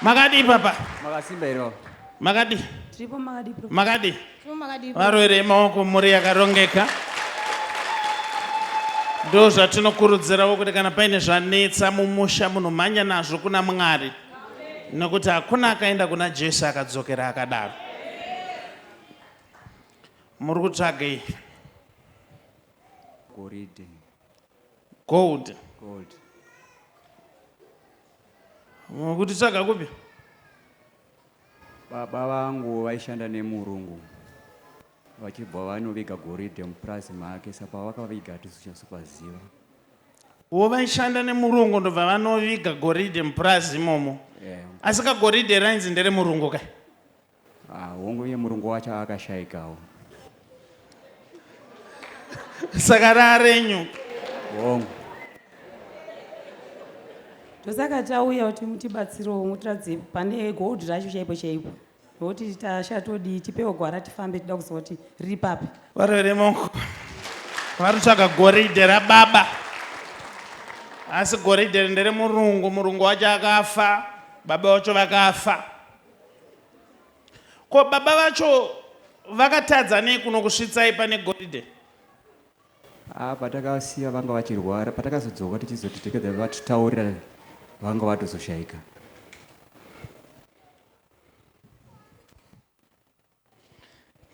Makadii papa? Makasimba here baba? Makadii? Tiripo makadii bro? Makadii? Tiripo makadii bro? Varwere maoko mhuri yakarongeka. Ndo zvatinokurudzirawo kuti kana paine zvanetsa mumusha munomhanya nazvo kuna Mwari. Nokuti hakuna akaenda kuna Jesu akadzokera akadaro. Muri kutsvagei? Goridhe. Gold. Gold. Kuti tsvaga kupi? Baba vangu vaishanda nemurungu vachibva vanoviga goridhe mupurazi make sa pavakaviga hatisichasopaziva wo vaishanda nemurungu ndobva vanoviga goridhe mupurazi imomo yeah. asi kagoridhe rainzi ndere murungu kai Ah, hongu uye murungu wacho akashaikawo. Saka rarenyu. Hongu. Ndosaka tauya kuti mutibatsirewo mutiratidze pane gold racho chaipo chaipo. Nokuti tasha todii tipewo gwara tifambe tida kuziva kuti riri papi. Varwere monko. Vari kutsvaga goridhe rababa. Asi goridhe ndere murungu, murungu wacho akafa, baba wacho vakafa. Ko baba vacho vakatadza nei kunokusvitsai pane goridhe? Ah, patakasiya vanga vachirwara, patakazodzoka tichizoti tikada vatitaurira vanga vatozoshaika.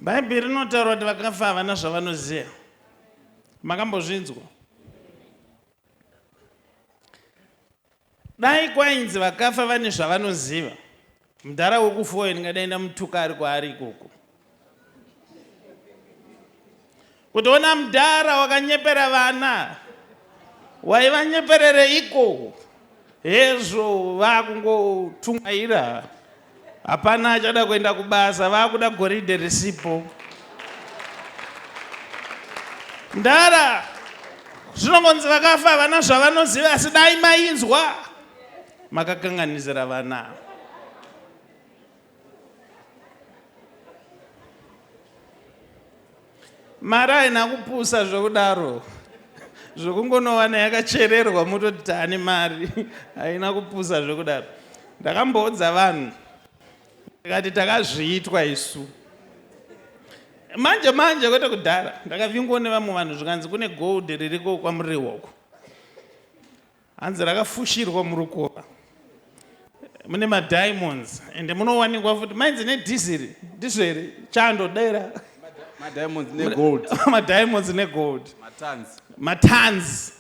Bhaibheri rinotaura kuti vakafa havana zvavanoziva. Makambozvinzwa? Dai kwainzi vakafa vane zvavanoziva, mudhara wekufa uyo ndingadai ndamutuka ari kwaari ikoko. Kutoona mdara wakanyepera vana waivanyeperereiko hezvo vakungotungaira hapana achada kuenda kubasa vakuda goridhe risipo mdara zvinongonzi vakafa havana zvavanoziva asi dai mainzwa makakanganisira vana mari haina kupusa zvokudaro zvokungonowana yakachererwa mototi tani mari haina kupusa zvokudaro ndakamboudza vanhu ndikati takazviitwa isu manje manje kwete kudhara ndakavingwa nevamwe vanhu zvikanzi kune gold ririko kwamuriwoko Hanzi rakafushirwa murukova mune madiamonds ende munowanikwa futi mainzi nedhiziri ndizvo here chando dera madiamonds negold madiamonds negold matans matans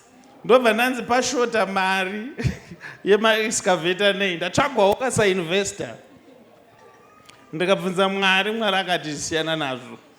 ndobva ndanzi pashota mari yemaexcavator nei ndatsvagwawo kasainvestor ndikabvunza mwari mwari akati siyana nazvo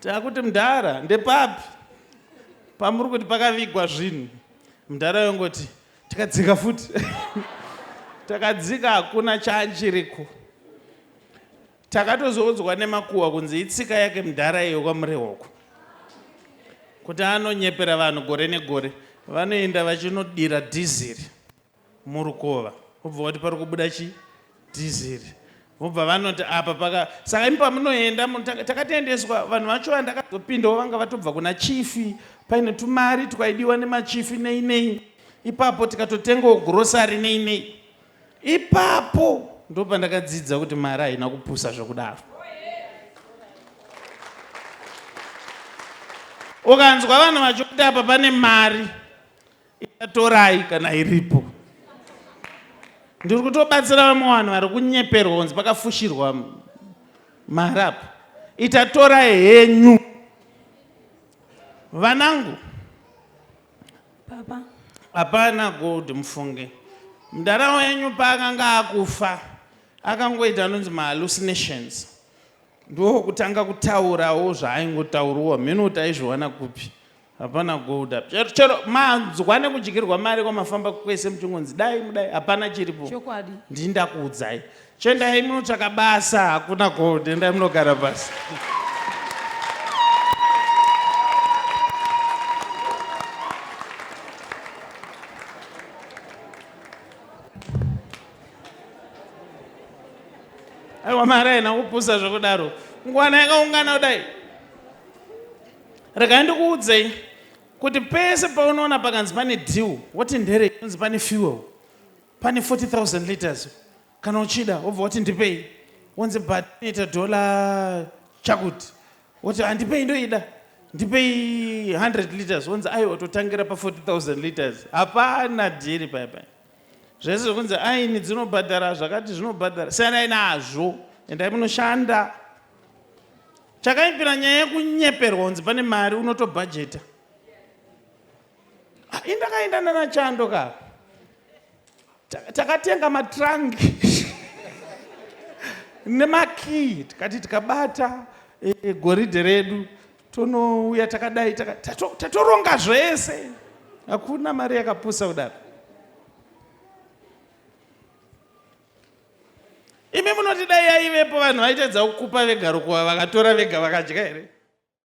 Takuti mdhara ndepapi pamuri kuti pakavigwa zvinhu mdhara yongoti takadzika futi takadzika hakuna chaachiriko takatozoudzwa nemakuhwa kunzi itsika yake mdhara iyo kwamurehoko kuti anonyepera vanhu gore negore vanoenda vachinodira dhiziri murukova wobva wati pari kubuda chii dhiziri vobva vanoti apa paka saka imi pamunoenda takatendeswa vanhu vacho vandakazopindawo vanga vatobva kuna chifi paine tumari twaidiwa nemachifi nei nei ipapo tikatotengawo gurosari nei nei ipapo ndo pandakadzidza kuti mari haina kupusa zvokudaro ukanzwa vanhu vachikuti apa pane mari Ikatorai kana iripo. Ndiri kutobatsira vamwe vanhu vari kunyeperwa kunzi pakafushirwa mari apo. Itatora henyu. Vanangu. Papa. Hapana gold mufunge. Mdara wenyu paakanga akufa akangoita anonzi mahallucinations. Ndokutanga kutaurawo zvaaingotauriwa mheno kuti aizviwana kupi. Hapana gold apa. Chero, chero manzwa nekudyirwa mari kwamafamba kwese muchingonzi dai mudai hapana chiripo. Chokwadi. Ndini ndakuudzai. Chendai munotsvaka basa hakuna gold endai munogara basa. aiwa mari haina kupusa zvekudaro ngwana yakaungana kudai Regai ndikuudzei kuti pese paunoona pakanzi pane deal woti ndere kunzi pane fuel pane 40000 liters kana uchida wobva woti ndipei wonzi but inoita dollar chakuti woti handipei ndoida ndipei 100 liters wonzi aiwa totangira pa 40000 liters hapana dhiri paya paya zvese zvekunzi aini dzinobhadhara zvakati zvinobhadhara siyanai nazvo endai munoshanda chakaipira nyaya yekunyeperwa unzi pane mari unotobhajeta ah, indakaenda nana chando ka takatenga matrunk nemakii tikati tikabata e, e, goridhe redu tonouya takadai tatoronga zvese hakuna mari yakapusa kudaro Imi munoti dai yaivepo vanhu vaitadza kukupa vega rukuva vakatora vega vakadya here?